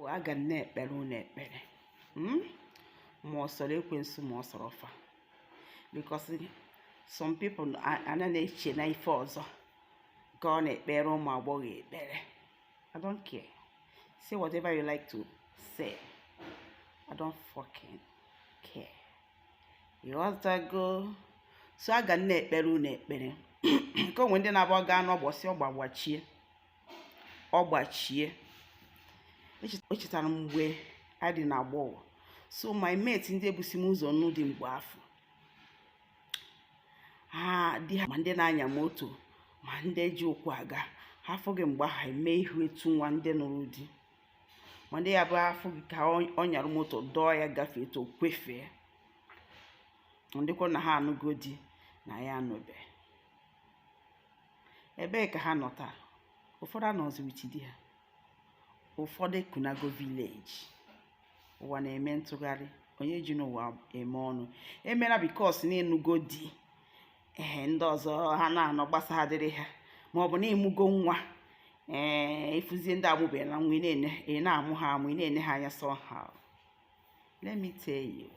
aga m na-ekpere unu ekpere hmm? ma ọ sọrọ ekwensu ma ọ sọrọ ọfa because some people ana na-eche na ife ọzọ ka ọ na-ekpere ụmụ agbọghọ ekpere I don't care say whatever you like to say I don't fucking care ịghọtago so aga m na-ekpere unu ekpere nke onwe ndị na-abụ ọ ga-anụ ọ gbosie ọ gba gbachie ọ gbachie echetara m mgbe a dị na agbọghọ so my mate ndị ebusi m ụzọ nụ di mgbe afụ ma ndị na-anya moto ma ndị ji ụkwụ aga ha afụ gị mgbe ha eme ihu etu nwa ndị nụrụ di ma ndị ya bụ a fụ gị ka ọ nyara moto dọọ ya gafee etu o kwefee dịkwa na ha anụgo di na ya anụbeghị ebee ka ha nọ taa ụfọdụ anọzi with di ha ụfọdụ ekunago village ụwa na-eme ntụgharị onye ji n'ụwa eme ọnụ emela because na ị nụgo di ee ndị ọzọ ha na-anọ gbasa ha dịrị ha ma ọ bụ na ị mụgo nwa ee ịfụzie ndị amụbeghịla nwa ị na-amụ ha amụ ị na-ene ha anya somehow let me tell you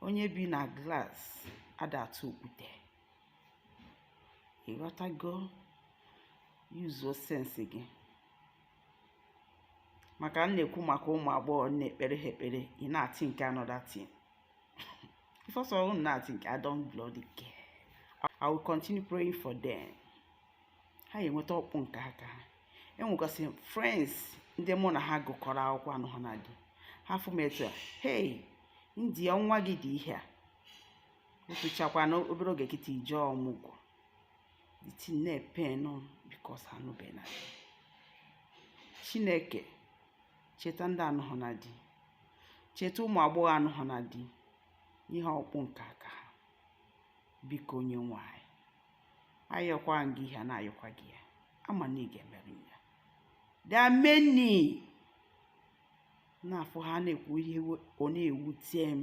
onye bi na glass ada atụ okwute ịghọtago yuzuo sense gị maka m na-ekwu maka ụmụ agbọghọ na-ekpere ha ekpere ị na-athink another thing ife ọ sọrọ unu na-athink I don't bloody care I will continue praying for them ha ga-enweta ọkpụ nke aka ha enwegasị friends ndị mụ na ha gụkọrọ akwụkwọ anụhana di ha fụ m etu a hey ndị a nwa gị dị ihe a tochakwana obere oge kịta ị jee ọmụgwọ the thing na-epain because anụbena di chineke cheta ndị anụhụ na di cheta ụmụ agbọghọ anụhụ na di ihe ọkpụ nke aka ha biko onye nwe anyị ayọkwa gị ihe a na-ayọkwa gị ya ama m na ị ga-emere m ya there are many na-afụ ha na-ekwu ihe ọ na-ewute m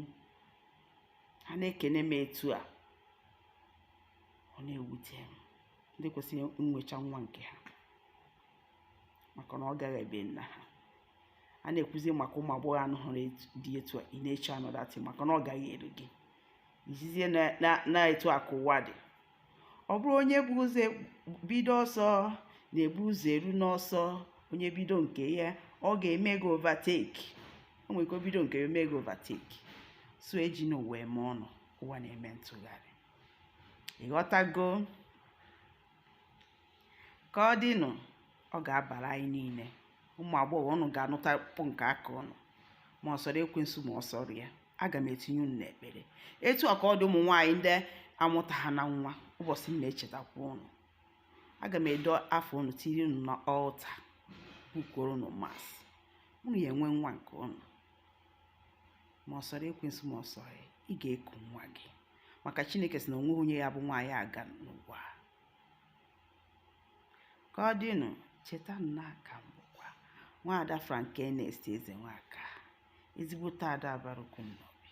ha na-ekene m etu a ọ na-ewute m ndị kwesịrị nwecha nwa nke ha maka na ọ gaghị ebe nna ha a na-ekwuzi maka ụmụ agbọghọ anụhụrụ di etu a ị na-eche another thing maka na ọ gaghị eru gị izizie na etu a ka ụwa dị ọ bụrọ onye bu ụzọ bido ọsọ na-ebu ụzọ eru n'ọsọ onye bido nke ya ọ ga-eme gị overtake o nwere ike bido nke ya eme gị overtake so ejina ụwa eme ọnụ ụwa na-eme ntụgharị ị ghọtago ka ọ dịnụ ọ ga-abara anyị niile ụmụ agbọghọ unu ga-anụta kpụ nke aka unu ma ọ sọrọ ekwensu ma ọ sọrọ ya aga m etinye unu n'ekpere etu a ka ọ dị ụmụ nwaanyị ndị amụta ha na nwa ụbọchị m na-echetakwa unu aga m ede afa unu tinye unu na altar bookuoro unu mass unu ya-enwe nwa nke unu ma ọ sọrọ ekwensu ma ọ sọrọ ị ga-eku nwa gị maka chineke sị na o nwehụ onye ya-abụ nwaanyị aga n'ụwa ka ọ dịnụ cheta na aka m bụkwa nwaada Frank Ernest Ezenwaka ezigbote ada bara ọkụ Nnobi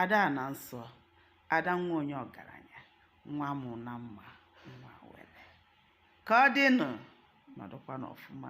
ada ana nsọ ada nwa onye ọgaranya nwa mụ na mma nwa were ka ọ dịnụ nọdụkwa n'ọfụma